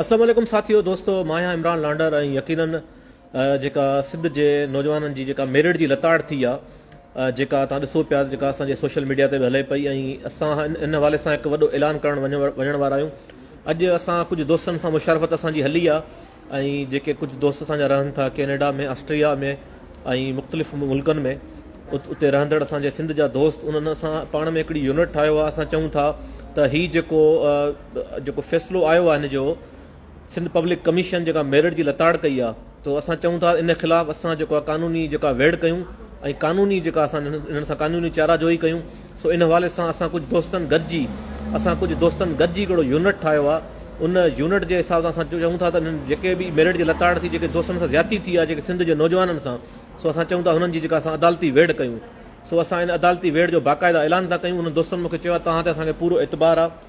السلام عليڪم ساٿيو دوستو مان آهيان عمران لانڊر ۽ يقينن جيڪا سنڌ جي نوجوانن جي جيڪا ميرٽ جي لتاڙ ٿي آ جيڪا توهان ڏسو پيا جيڪا اسان جي سوشل ميڊيا تي به هلي پئي ۽ اسان ان حوالي سان هڪ وڏو اعلان ڪرڻ وڃڻ وارا آهيون اڄ اسان ڪجهه دوستن سان مشارفت اسان جي هلي آ ۽ جيڪي ڪجهه دوست اسان جا رهن ٿا ڪينيڊا ۾ آسٽريا ۾ ۽ مختلف ملڪن ۾ اتي رهندڙ اسان جي سنڌ جا دوست انهن اسان پاڻ ۾ هڪڙي يونٽ ٺاهيو آ اسان چئون ٿا ته هي جيڪو جيڪو فيصلو آيو آهي هن جو سنڌ پبلڪ ڪميشن جيڪا ميرٽ جي لتاڙ ڪئي آهي تو اسان چئون ٿا ان خلاف اسان جيڪو آهي قانوني جيڪا ويڙ ڪيون ۽ قانوني جيڪا اسان انهن سان قانوني چارا جوئي ڪيون سو ان حوالي سان اسان ڪجهه دوستن گڏجي اسان ڪجهه دوستن گڏجي هڪڙو يونٽ ٺاهيو آهي ان يونٽ جي حساب سان اسان چئون ٿا ته انهن جيڪي به ميرٽ جي لتاڙ ٿي جيڪي دوستن سان زيادتي ٿي آهي جيڪي سنڌ جي نوجوانن سان سو اسان چئون ٿا هنن جي جيڪا اسان عدالتي ويڙ ڪيون سو اسان ان عدالتي ويڙ جو باقاعده اعلان ٿا ڪيون انهن دوستن مونکي چيو آهي تهان تي اسان کي پورو اعتبار آهي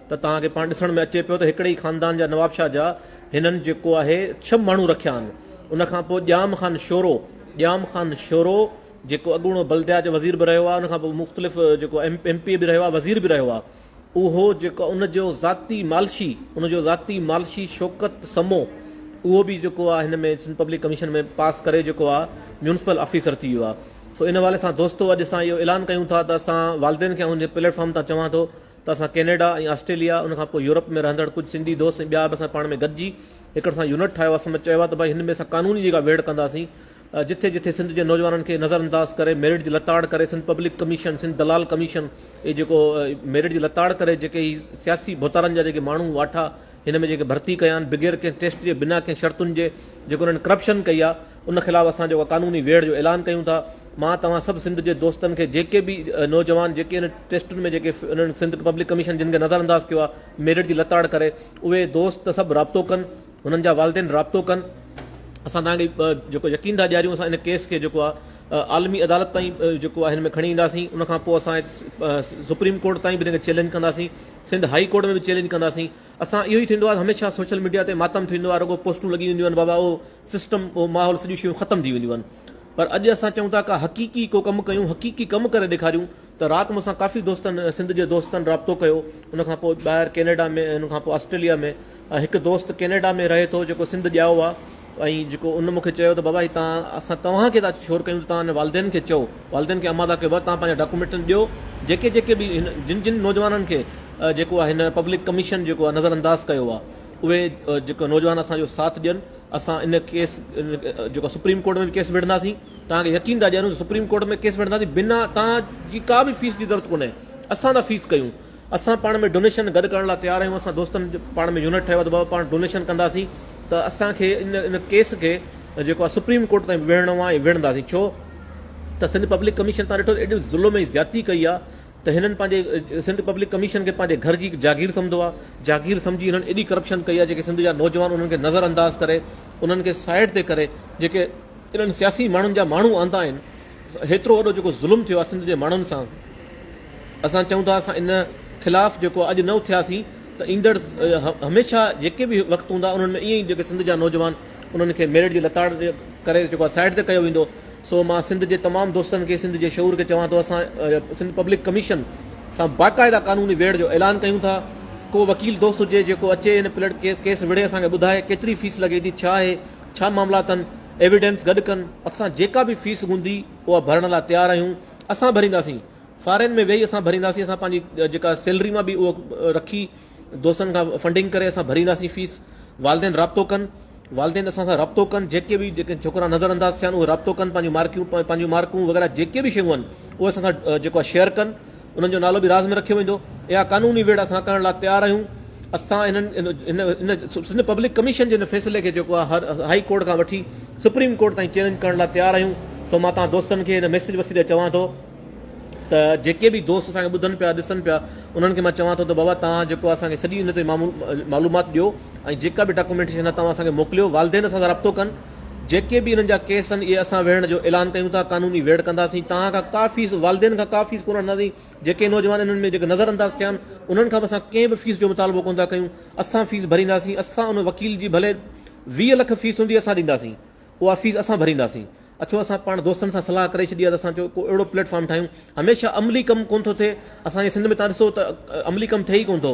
ته توهان کي پاڻ ڏسڻ ۾ اچي پيو ته هڪڙي ئي خاندان جا نوابشاهه جا هنن جيڪو آهي ڇهه ماڻهو رکيا آهن ان کان پوء ڄام خان شورو ڄام خان شورو جيڪو اڳوڻو بلديات جو وزير به رهيو آهي ان کان پوء مختلف جيڪو ايم پي به رهيو آهي وزير به رهيو آهي اهو جيڪو ان جو ذاتي مالشي ان جو ذاتي مالشي شوڪت سمو اهو به جيڪو آهي هن ۾ سنڌ پبلڪ ڪميشن ۾ پاس ڪري جيڪو آهي ميونسپل آفيسر ٿي ويو آهي سو ان حوالي سان دوستو اڄ اسان اهو اعلان ڪيون ٿا ته اسان والدين کي آئون جي پليٽ فارم تان چوان ٿو ته اسان ڪينيڊا ۽ آسٽريليا ان کان پوء يورپ ۾ رهندڙ ڪجهه سنڌي دوست ۽ ٻيا به اسان پاڻ ۾ گڏجي هڪڙ اسان يونٽ ٺاهيو آهي سمت چيو آهي ته ڀائي هن ۾ اسان قانوني جيڪا ويڙهه ڪنداسين جٿي جٿي سنڌ جي نوجوانن کي نظر انداز ڪري ميرٽ جي لتاڙ ڪري سنڌ پبلڪ ڪميشن سنڌ دلال ڪميشن اي جيڪو ميرٽ جي لتاڙ ڪري جيڪي هي سياسي ڀوتارن جا جيڪي ماڻهو واٺا هن ۾ جيڪي ڀرتي ڪيا آهن بغير ڪنهن ٽيسٽ جي بنا ڪنهن شرطن جي جيڪو انهن ڪرپشن ڪئي آهي ان خلاف اسان جيڪو قانوني ويڙهه جو اعلان ڪيون ٿا مان توهان سڀ سنڌ جي دوستن کي جيڪي به نوجوان جيڪي ان ٽيسٽن ۾ جيڪي انهن سنڌ پبلڪ ڪميشن جن کي نظر انداز ڪيو آ ميرٽ جي لتاڙ ڪري اهي دوست سڀ رابطو ڪن انهن جا والدين رابطو ڪن اسان توهان کي جيڪو يقين ٿا ڏياريون اسان ان ڪيس کي جيڪو آ عالمي عدالت تائين جيڪو آ هن ۾ کڻي اينداسين ان کان پوء اسان سپريم ڪورٽ تائين به ان کي چيلنج ڪنداسين سنڌ هائي ڪورٽ ۾ به چيلنج ڪنداسين اسان اهو ئي ٿيندو آ هميشه سوشل ميڊيا تي ماتم ٿيندو آ رڳو پوسٽون لڳي وينديون آهن بابا او سسٽم اهو ماحول سڄيون شيون ختم ٿي وينديون آهن پر اڄ اسان چئون ٿا ڪا حقيقي ڪو ڪم ڪيون حقيقي ڪم ڪري ڏيکاريون ته رات مون سان ڪافي دوستن سنڌ جي دوستن رابطو ڪيو ان کان پوء ٻاهر ڪينيڊا ۾ ان کان پوء آسٽريليا ۾ هڪ دوست ڪينيڊا ۾ رهي ٿو جيڪو سنڌ ڄائو آهي ۽ جيڪو ان مونکي چيو ته بابا هي تان اسان توهان کي ٿا شور ڪيون توهان والدين کي چئو والدين کي امادا کي ور توهان پنهنجا ڊاڪومينٽ ڏيو جيڪي جيڪي به جن جن نوجوانن کي جيڪو آهي هن پبلڪ ڪميشن جيڪو آهي نظر انداز ڪيو آهي اهي جيڪي نوجوان اسان جو ساٿ ڏين اسان ان ڪيس جيڪو سپريم ڪورٽ ۾ به ڪيس وڙهنداسين توهان کي يقين ٿا ڏياريون سپريم ڪورٽ ۾ ڪيس وڙهنداسين بنا توهان جي ڪا به فيس جي ضرورت ڪونهي اسان ٿا فيس ڪيون اسان پاڻ ۾ ڊونيشن گڏ ڪرڻ لاء تيار آهيون اسان دوستن پاڻ ۾ يونٽ ٺهيو ته بابا پاڻ ڊونيشن ڪنداسين ته اسان کي ان ان ڪيس کي جيڪو آه سپريم ڪورٽ تائين ويڙهڻو آهي ويڙهنداسين ڇو ته سنڌ پبلڪ ڪميشن تان ڏٺو ايڏو ظلم ۽ زيادتي ڪئي آهي ته هنن پنهنجي سنڌ پبلڪ ڪميشن کي پنهنجي گهر جي هڪ جاگير سمجهو آهي، جاگير سمجهي هنن ايڏي ڪرپشن ڪئي آهي جيڪي سنڌ جا نوجوان انهن کي نظر انداز ڪري انهن کي سائيڊ تي ڪري جيڪي انهن سياسي ماڻهن جا ماڻهو آندا آهن هيترو وڏو جيڪو ظلم ٿيو آهي سنڌ جي ماڻهن سان اسان چئون ٿا اسان ان خلاف جيڪو اڄ نه اٿياسين ته ايندڙ هميشه جيڪي به وقت هوندا انهن ۾ ائين ئي جيڪي سنڌ جا نوجوان انهن کي ميرٽ جي لتاڙ ڪري جيڪو سائيڊ تي ڪيو ويندو سو مان سنڌ جي تمام دوستن کي سنڌ جي شعور کي چوان ٿو اسان سنڌ پبلڪ ڪميشن سان باقاعده قانوني ويڙهه جو اعلان ڪيون ٿا ڪو وڪيل دوست هجي جيڪو اچي هن پلٽ ڪيس وڙهي اسان کي ٻڌائي ڪيتري فيس لڳي ٿي ڇا آهي ڇا معاملا اٿن ايويڊنس گڏ ڪن اسان جيڪا به فيس هوندي اها ڀرڻ لاء تيار آهيون اسان ڀرينداسين فارين ۾ ويهي اسان ڀرينداسين اسان پنهنجي جيڪا سيلري مان به اهو رکي دوستن کان فنڊنگ ڪري اسان ڀرينداسين فيس، والدين رابطو ڪن، والدين اسان سان رابطو ڪن، جيڪي به جيڪي ڇوڪرا نظر انداز ٿيا آهن اهي رابطو ڪن، پنهنجون مارڪيون پنهنجون مارڪون وغيره جيڪي به شيون آهن اهي اسان سان جيڪو آهي شيئر ڪن، انهن جو نالو به راز ۾ رکيو ويندو، اها قانوني ويڙهه اسان ڪرڻ لاء تيار آهيون، اسان هن هن سنڌ پبلڪ ڪميشن جي هن فيصلي کي جيڪو آهي هائي ڪورٽ کان وٺي سپريم ڪورٽ تائين چئلينج ڪرڻ لاء تيار آهيون، سو مان توهان دوستن کي هن ميسيج وسيلي چوان ٿو. ته جيڪي به دوست اسان کي ٻڌن پيا ڏسن پيا انهن کي مان چوان ٿو ته بابا توهان جيڪو اسان کي سڄي ان تي معلومات ڏيو ۽ جيڪا به ڊاڪومينٽيشن آهي توهان اسان کي موڪليو والدين سان رابطو ڪن جيڪي به انهن جا ڪيس آهن اهي اسان ويڙهڻ جو اعلان ڪيون ٿا قانوني ويڙهه ڪنداسين توهان کان ڪا فيس والدين کان ڪا فيس ڪونه وٺنداسين جيڪي نوجوان انهن ۾ جيڪي نظر انداز ٿيا آهن انهن کان به اسان ڪنهن به فيس جو مطالبو ڪونه ٿا ڪيون اسان فيس ڀرينداسين اسان ان وڪيل جي ڀلي ويهه لک فيس هوندي اسان ڏينداسين اها فيس اسان ڀرينداسين. اچو اسان پاڻ دوستن سان صلاح ڪري ڇڏي آهي ته اسان چيو ڪو اهڙو پليٽ فارم ٺاهيون. هميشه عملي ڪم ڪونه ٿو ٿئي. اسان جي سنڌ ۾ تان ڏسو ته عملي ڪم ٿئي ئي ڪونه ٿو.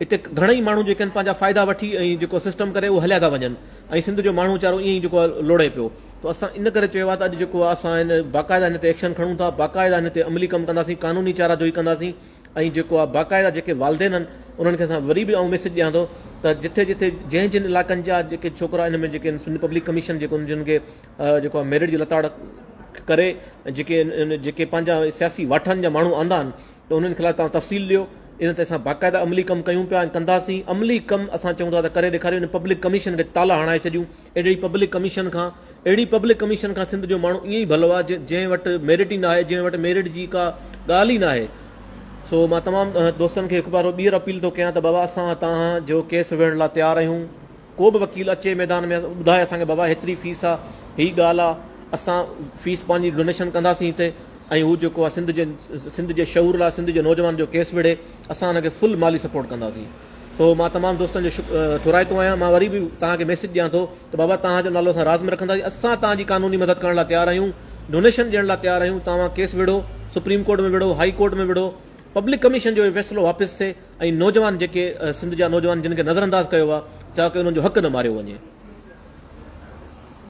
هتي گهڻائي ماڻهو جيڪي آهن پنهنجا فائدا وٺي ۽ جيڪو سسٽم ڪري اهو هليا ٿا وڃن ۽ سنڌ جو ماڻهو ويچارو ائين ئي جيڪو آهي لوڙي پيو. ته اسان ان ڪري چيو آهي ته اڄ جيڪو آهي اسان هن باقاعده هن تي ايڪشن کڻون ٿا. باقاعده هن تي عملي ڪم ڪنداسين. قانوني چارا جوئي ڪنداسين. ۽ جيڪو آ باقاعده جيڪي والدين آھن انھن کي اسان وري به آئون ميسيج ڏيان ٿو ته جتي جتي جنھن جنھن علاقن جا جيڪي ڇوڪرا ان ۾ جيڪي سنڌ پبلڪ ڪميشن جيڪو ان جن کي جيڪو آ ميرٽ جي لتاڙ ڪري جيڪي جيڪي پنھنجا سياسي واٺن جا ماڻھو آندا آھن ته انھن خلاف تان تفصيل ڏيو ان تي اسان باقاعده عملي ڪم ڪيون پيا ۽ ڪنداسين عملي ڪم اسان چون ٿا ته ڪري ڏيکاريون ان پبلڪ ڪميشن کي تالا ھڻائي ڇڏيون اهڙي پبلڪ ڪميشن کان اهڙي پبلڪ ڪميشن کان سنڌ جو ماڻهو ائين ئي ڀلو آهي جنهن وٽ ميرٽ ئي ناهي جنهن وٽ ميرٽ جي ڪا ڳالهه ئي ناهي سو مان تمام دوستن کي هڪ بار ٻيهر اپيل ٿو ڪيان ته بابا اسان تان جو ڪيس ويڙهڻ لاء تيار آهيون ڪو به وڪيل اچي ميدان ۾ ٻڌائي اسان کي بابا هيتري فيس آ هي ڳالهه آ اسان فيس پنهنجي ڊونيشن ڪنداسين هتي ۽ هو جيڪو آ سنڌ جي سنڌ جي شعور لاء سنڌ جي نوجوان جو ڪيس وڙهي اسان هن کي فل مالي سپورٽ ڪنداسين سو مان تمام دوستن جو شڪ ٿورائتو آهيان مان وري به توهان کي ميسيج ڏيان ٿو ته بابا توهان جو نالو اسان راز ۾ رکنداسين اسان توهان جي قانوني مدد ڪرڻ لاء تيار آهيون ڊونيشن ڏيڻ لاء تيار آهيون توهان ڪيس وڙهو سپريم ڪورٽ ۾ وڙهو هائي ڪورٽ ۾ وڙهو پبلڪ ڪميشن جو اهو فيصلو واپس ٿئي ۽ نوجوان جيڪي سنڌ جا نوجوان جن کي نظر انداز ڪيو ويو آهي چاهو ڪي انهن جو حق نه ماريو وڃي.